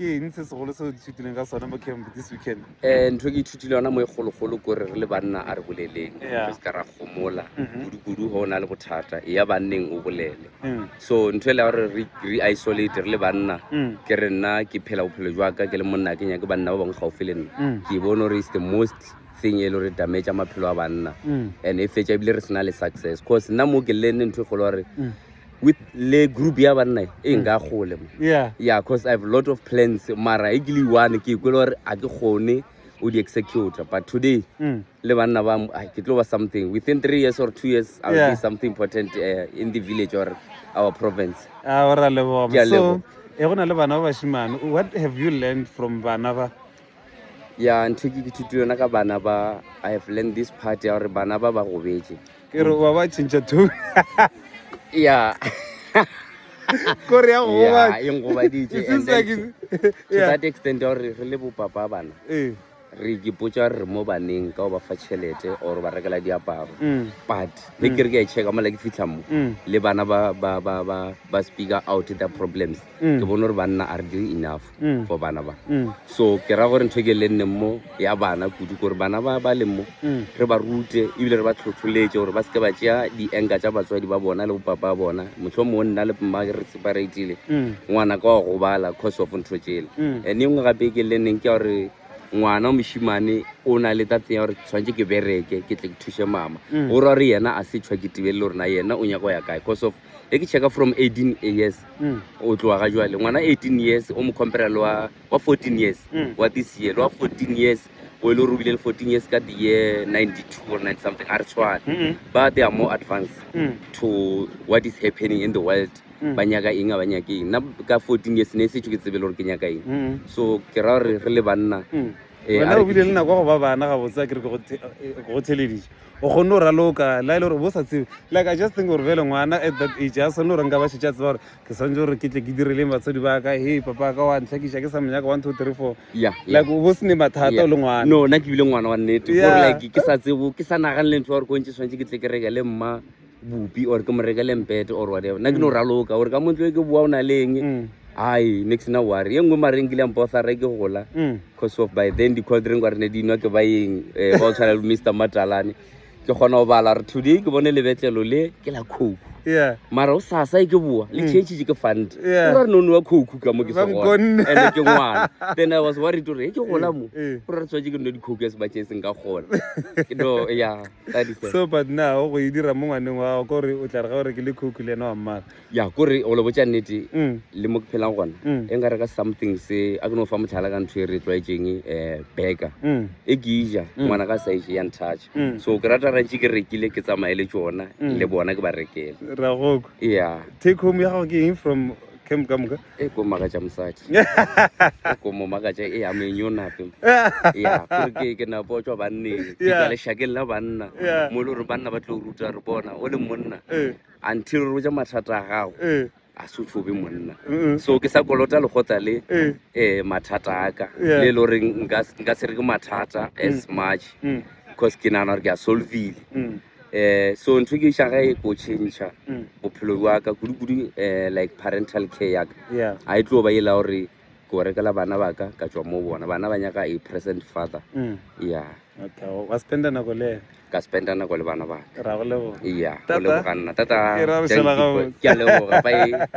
ke eng se segolo se o ithutileng ka sone mo camp this weekend um ntho e ke ithutile yona mo e kgologolo ko re re le banna a re boleleng Yeah. re se ka ra gomola Mhm. kudu-kudu go o na le bothata e ya banneng o bolele Mm, so ntho e le ya gore re re isolate re le banna mm, ke re nna ke phela bophelo jwaka ke le monna ke nyake banna ba bangwe gaufi le nna mm, ke bone gore is the most thing e le gore damage maphelo a banna mm, and e fetsa ebile re sena le success cause nna mo ke lenne ntho e kgolo gore mm. with le group ya banna e nka gole mo yeah yeah because i have a lot of plans mara e ke le one ke kwele gore a ke gone o di executor but today mm. le banna ba ai, ke tlo ba something within three years or two years i will Yeah. be something important uh, in the village or our province a o ra Ke leboga a so leboga. e go na le bana ba bashimane what have you learned from bana ba ya ntho e ke ke thuto yona ka bana ba i have learned this part ya gore bana ba ba gobetše ke re ba ba tšhentšha two ya kore ya goba e ngobaditše and then to that extent ya gore re le bopapa bana eh. re ikipotsa re mo baneng ka go ba fa tšhelete or ba rekela diaparo mm. but ge mm. ke re ke a checka mola ke fitlha mo mm. le bana ba speaker out the problems mm. ke bone gore banna a re dire enough mm. for bana ba mm. so ke ra gore ntho e ke le nneng mo ya bana kudu kore bana ba ba leng mo mm. re ba rute ebile re ba tlhotlholetse gore ba seke ba tšea di-anka tša batswadi ba bona le bopapa ba bona motlho mongwe nna le mma re separatile mm. ngwana ka wa gobala cause of ntho tsele mm. and e nngwe gape e ke le nneng ke ya gore ngwana wa moshimane o na le tatseng ya gore tshwanetse ke bereke ke tle ke thuse mama mm. o ra gore yena a se tshwa ke tibelele gorena yena o nyaka go ya kae cause of e ke checka from 18 years mm. o tloa ga jwale ngwana 18 years o mo compare le wa 14 years mm. wa this year le wa 14 years o e le gore o bile le 14 years ka the year 92 or 9 something a re tshwane mm-hmm. ba they are more advanced mm. to what is happening in the world mm. ba nyaka eng a ba nyake eng nna ka 14 years ne e setsho ke tsebe le gore ke nyaka eng mm. so ke ra gore re le banna mm. eh, wena o bile le nako go ba bana ga botsa ke re ke go theledise o kgonne go raloka la e le gore bo sa tsebe like i just think gore bele ngwana at that age a sone gore nka ba šetša tseba gore ke swantse gore ke tle ke direleng batswadi ba ka he papa ka wa ntlhakiša ke sa monyaka one two three four like o bo se ne mathata o le ngwana no nna ke bile ngwana wa nnete gore like ke sa tsebo ke sa naganele ntho ya gore ko ntse tshwanetse ke tle ke reke le mma bupi or ke mo rekele mpete or whatever nna ke no mm. raloka gore ka montlo e ke boa o na leng mm. ai nix na ware ye nngwe mareng kile mpo sara ke gola mm. cause of by then di-cold drink wa re ne di nwa ke ba eng um eh, ba o tshwana le mr matalane ke kgona go bala re today ke bone lebetlelo le ke la coke mara o sasa e ke boa le change ke fund ra re no nwa coke ka mo ke segone ene ke ngwana then i was worried gore e ke gola mo gore re tshwanetse ke nne di-coke ya sebakeng seng ka gona no ya so but now go e dira mo ngwaneng wa gago kore o tla re ga o rekile coke le ena wa mmala ya kore o lebotsa nnete mm. le mo ke phelang gona mm. e nka reka something se a ke no fa motlhala ka ntho e re tlwaetseng um eh, beka mm. e ke ija ngwana ka sa ije yang touch so ke rata rantse ke rekile ke tsamaye le tsona le bona ke ba rekele ragoko ya take home ya gago ke eng from camp ka moka e ko makatša mosadi e ko mo makatša e ya menyo nape ya gore ke ke na botswa banneng ke tla lešakeng la banna mo e le gore banna ba tlo ruta re bona o le monna eh. until re ja mathata a gago eh. a se tshobe monna so ke sa kolota legotla le um eh. mathata a ka le e le goreng nka se re ke mathata as mm. much mm. because ke nagana gore ke a solvile mm. um so ntho ke iša ge e ko change mm. bophelo bja ka kudu-kudu um eh, like parental care ya ka yeah. a e tlo ba e la gore ke o rekela bana ba ka ka tswa mo bona bana ba nyaka a present father mm. ya wa spenda nako le ka spenda nako le bana ba ka ra go leboga ya go leboga nna tata ke a leboga bae